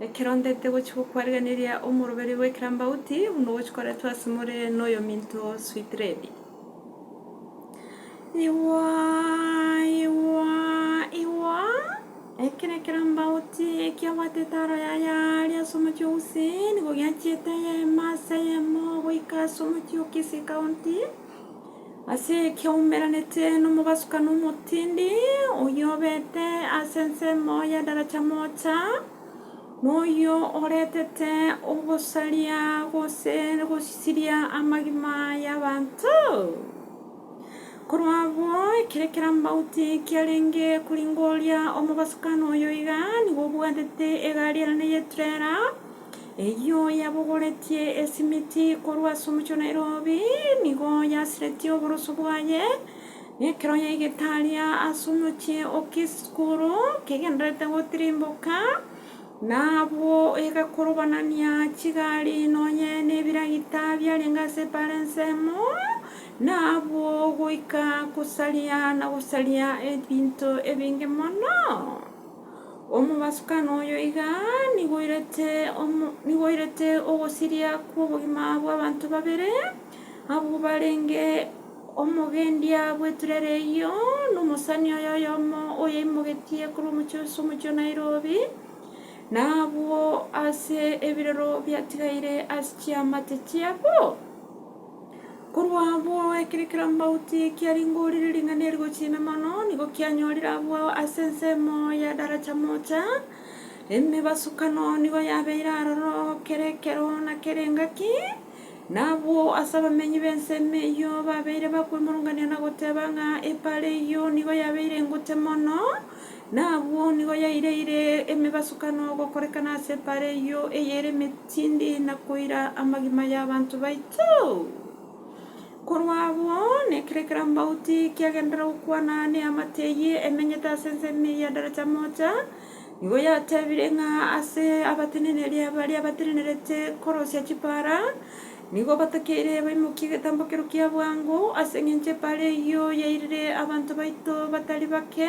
Ekero ndete gochia gokwarigereria omoroberio bw'ekerambauti buna ogochia koretwa asemore noyominto Switredi. Igwa, igwa, igwa, eke nekerambauti ekiabwate etaro yaye aaria ase omochie o Huseni, nigo giachiete eyemo ase eyemo goika ase omochie o Kisi County. Ase ekeumberanete nomobasukani omotindi, oyio obete ase ensemo ya daracha mocha, noyio oretete ogosaria gose gosiria amagima y'abanto. Korwa abwo, ekero kerambauti kiarenge koringoria omobasukani oyo iga, nigo obwatete egari ere neye eturera, Eyio yabogoretie esimiti korwa ase omochie o Nairobi, nigo yasiretie oboroso bwaye, na ekero yaigete aria ase omochie o Kiskuru kegendererete gotirimboka, nabwo egakorobanania chigari nonye nebiragita biarenge ase ebara ensemo, na abwo goika gosaria na gosaria ebinto ebinge mono. Omobasukani oyo iga nigo oirete omo, nigo oirete ogosiria kw'obogima bw'abanto babere, abwo barenge omogendia bw'eturere eyio, na omosani oye oyomo oyeimogetie korwa omochie ase omochie o Nairobi, na abwo ase ebirero biatigaire ase chiamate chiabo. Korwa abwo ekero kirambauti kiaringorire ring'ana eri gochia ime mono, nigo kianyorire abwo ase ensemo ya daracha mocha, emebasukano nigo yabeire aroro kera ekero na kera engaki, na abwo ase abamenyi b'ensemo eyio babeire bakwemurungania na goteba ng'a epaara eyio nigo yabeire engote mono, na abwo nigo yaireire emebasukano gokorekana ase epaara eyio eyere emete. Tindi nakoira amagima y'abanto baito. Korwa abwo, nekere ekero Ambauti kiagenderera gokwana neamate eyio emenyete ase ense enene ya Daracha Moja, nigo yatebire ng'a ase abateneneria baria batenenerete korosia chipaara, nigo batakeire baimokie egetambokero kia bwango, ase engencho epaara eyio yairire abanto baito batari bake.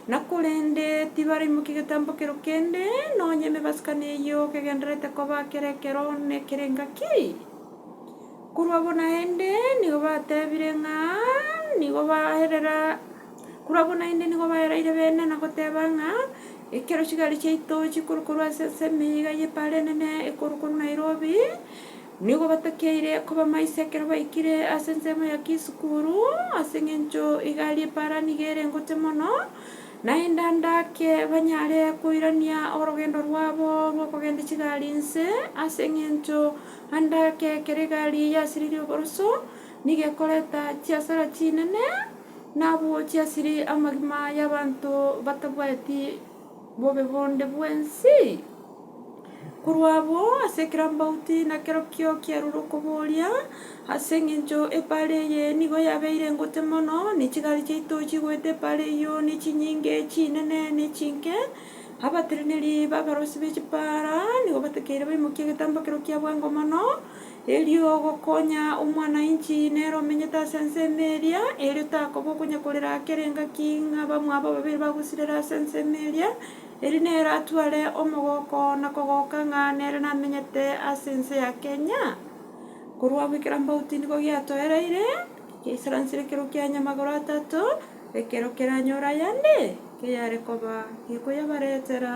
Na korende tibaraimokia getambo kero kende, nonya emebasikano eyio kegendererete koba kera ekero nekera engaki. Korwa abwo naende nigo batebire ng'a nigo baerera, korwa abwo naende nigo baeraire bene na goteba ng'a ekero chigari chiaito chikorokorwa ase ensemo eyio iga y'epara enene ekorwa korwa Nairobi, Nigo batakeire kobamaisa ekero baikire ase ensemo ya Kisukuru, ase engencho igari epaara nigo ere ngote mono, naende ande ake banyare koirania orogendo rwabo rw'okogenda chigari inse, ase engencho ande ake ekero egari eye yasiririe oboroso, nigo ekoreta chiasara chinene, na abwo chiasiri amagima y'abanto batabwati. bobe bonde bw'ense. Korwa abwo, ase ekerambauti nakerokio kiarure okoboria, Ase engencho epaara eye nigo yabeire ngote mono, ne chigari chiaito chigoeta epaara eyio ne chinyinge, chinene ne chinke. Abatereneri b'abarosi be chipaara nigo batakeire baimokie egetambo ekero kiabwengwa mono. Erio ogokonya omwana-inchi nere omenyete ase ense ime eria, erio takoba okonyekorera akera engaki ng'a bamwabo babere bagosirera ase ense ime eria, erio nere atware omogoko na kogoka ng'a nere namenyete ase ense ya Kenya. Korwa abwo ekerabaoti nigo giatoereire, giaisaransire ekero kia nyamagoro atato, ekero keranyore ayande, keyare koba gekoyabaretera.